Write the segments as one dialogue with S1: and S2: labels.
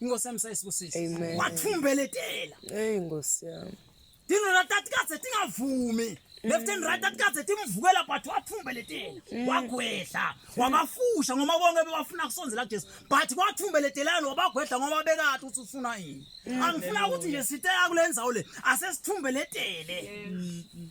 S1: Inkosi yami sayisikusisa. Amen. Wathumbeletela. Hey Nkosi
S2: yami. Dino la tati
S1: kaze tingavumi. Left and right tati kaze timvukela but wathumbeletela. Mm. Wagwedla. Wabafusha ngoba bonke bebafuna kusonzela kuJesu. But wathumbelethelana wabagwedla ngoba bekade uthi ufuna yini. Mm. Angifuna ukuthi nje site yakulenzawo le asesithumbeletele. Mm.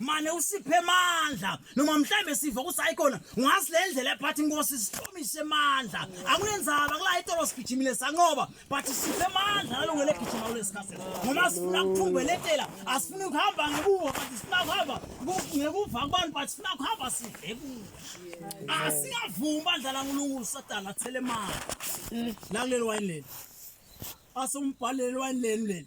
S1: mane usiphe amandla noma mhlawumbe siva ukuthi hayi khona ungazi le ndlela ebhathi inkosi sihlomise amandla akunenzaba kula itolo sigijimile sanqoba but siphe amandla nalungele gijima kule sikhathi ngoba sifuna kuthumbelethela asifuni ukuhamba ngekuwo but sifuna kuhamba ngekuva kubantu but sifuna kuhamba sidle kuwo asingavumi bandla lankulunkulu satana athele imali lakuleli wayini leli asombhaleli wayini leli leli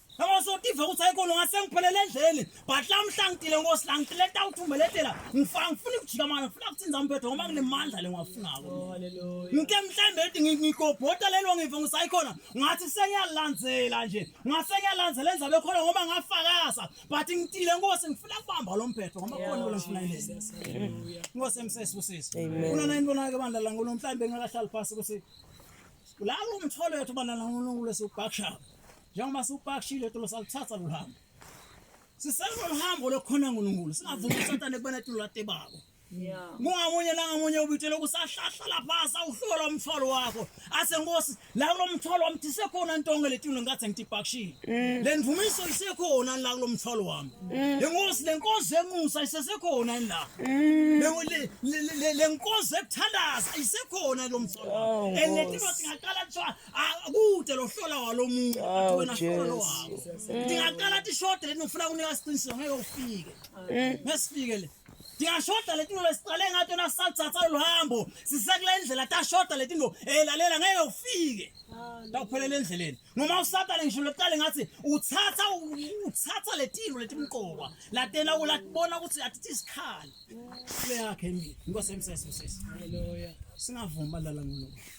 S1: Yabo sotiva ukuthi hayi kono ngase ngiphelele endleni but la mhla ngitile nkosi la ngitile tawuthumeletela ngifanga ngifuna ukujika manje ngifuna ukuthinza umphetho ngoba kunemandla lengiwafunako ngike mhlambe ethi ngigobhota lelo ngive ngisayikhona ngathi sengiyalandzela nje ngase ngiyalandzela enza bekhona ngoba ngafakaza but ngitile nkosi ngifuna kubamba lo mphetho ngoba khona lo ngifuna ilezi nkosi emsesi usisi kuna nani bona ke bandla la ngono mhlambe ngakahlali phansi ukuthi la umtholo yethu bana la ngono kulesi bakshaba Njengoba siwupakishile tulo salithatha lo hambo. Sisenza lo hambo lokhona uNkulunkulu. Singavumi uSathane kubona tulo late babo. Yeah. Ngamunye la ngamunye ubitshela ukusahlahla lapha sawuhlola umthwalo wakho. Ase Nkosi, la kulomthwalo wami thise khona intonga letulo ngathi ngitipakishile. Mm. Le ndvumiso isekhona la kulomthwalo wami. Mm. Le Nkosi lenkonzo emusa isesekhona la. Mm. Le lenkonzo ekuthandaza isekhona lo mthwalo. Oh, Enetilo singaqala kuthiwa akude ah, lohlola walomuntu oh, wena hlola lo wakho ndingaqala ti short leni ngifuna kunika siqiniseko ngeke ufike eh. ngesifike le ndiyashoda leti nto siqale ngathi yona sisathatha olu hambo sisekule ndlela tashoda leti nto elalela eh, ngeke ufike takuphelela endleleni noma usatane ngisho lokuqale ngathi uthatha uthatha letilo letimqoka latena ulatibona ukuthi atithi isikhali kule yakhe mina inkosi emsese sisi
S2: singavuma lala
S1: ngolo